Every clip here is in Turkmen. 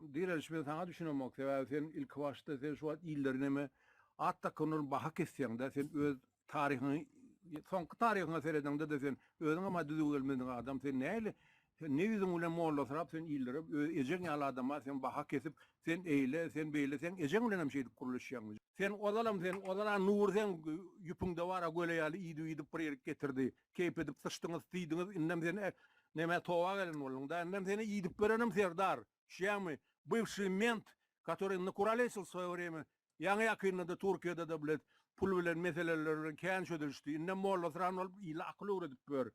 Direliş men saňa düşünemok sebäbi sen ilkibaşda sen şu wagt iller neme at dakanlar baha kesýäňdä sen öz taryhyňy soňky taryhyňa seredeňdede sen özüňem ha düzüw gelmedik adam sen näli sen ne ýüzüň bilen mollasyrap sen illere öz ejeň ýaly adama sen baha kesip sen eýle sen beýle seň ejeň bilenem şeýdip gürleşýäňmi sen ozalam sen ozal a nury seň ýüpüňde bar a göle ýaly iýdip iýdip bir ýerik getirdi. keýp edip syçdyňyz siýdiňiz indem seni neme towa gelen bolduňda indem seni iýdip berenim serdar düşýäňmi bywşşy ment katory indi kuralesl svoýe wremýa ýaňy ýakynda-da turkiýada-da blet pul bilen meseleler bilen kän çözülişdi indem mollasran bolup ile akyl öwredip ýör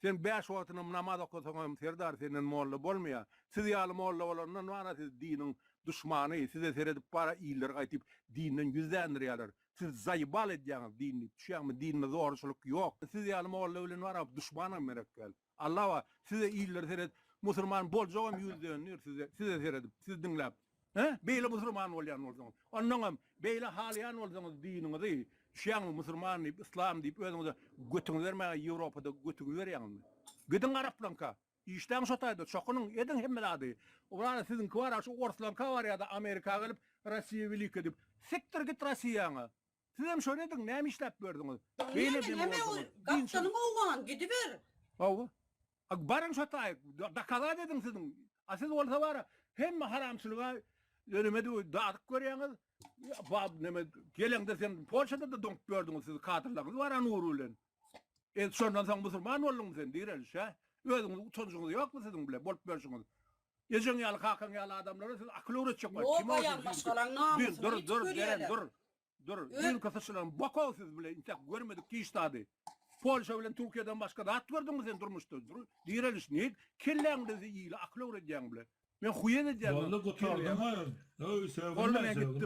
sen bäş wagtynam namaz okasaňam serdar senden molla bolmaýa siz ýaly molla bolandan bara siz diniň duşmany size seredip bara iller gaýtyp dinden ýüz dändirýäler Siz zaýebal edýäňiz dinni düşýäňmi dinime zorçylyk ýok siz ýaly molla bilen wara duşmanam gerek däl Allah bar size iller seret musurman boljagam ýüz döndir size size seredip siz diňläp he beýle musurman bolýan bolsaňyz ondaňam beýle halaýan bolsaňyz diniňizi düşýäňmi musurman diýip islam diýip özüňize götüňizi bermäge ýewropada götüňizi berýäňizmi gidiň araplaňka Işläň şo taýda, çokunyň, ediň hemme zady. Owlady siziňki bar-a şu orslarka bar ýa-da Amerika gelip Rossiýa welika diýip. Sikdir git Rossiýaňa. Sizem şony ediň, näme işläp ýördiňiz. Beýle edýän bolsaňyz. Gapdanyň owgan, gidiber. Hawa. A baryň şo taý, dokazat ediň siziň. A siz bolsa bar-a hemme haramçylyga önüme döw dadyk görýäňiz. Bab neme geleňde sen Polşada-da doňup ýördiňiz siz kadrlaryňyz bar-a Nury bilen. E, şondan soň musulman bolduňmy sen, direlişe? Özüňizi utanjyňyz ýokmy siziň bile bolup ýörşüňiz? Ejeň ýaly, kakaň ýaly adamlara siz akyl öwretjek bolup, kim o sizi maşgalaň namysyny Dur, dur, dur, Jeren, dur. Dur, düýnki syçylan bokow siz bile, intäk görmedik diş dady. Polşa bilen Türkiýeden başga zat gördüňmi sen durmuşda? Dur, direliş, niýe kelläňde siz ile akyl öwredýäň bile? Men huýet edýän. Boldy, gutardyň oýun. Öý, sögünme, sögünme.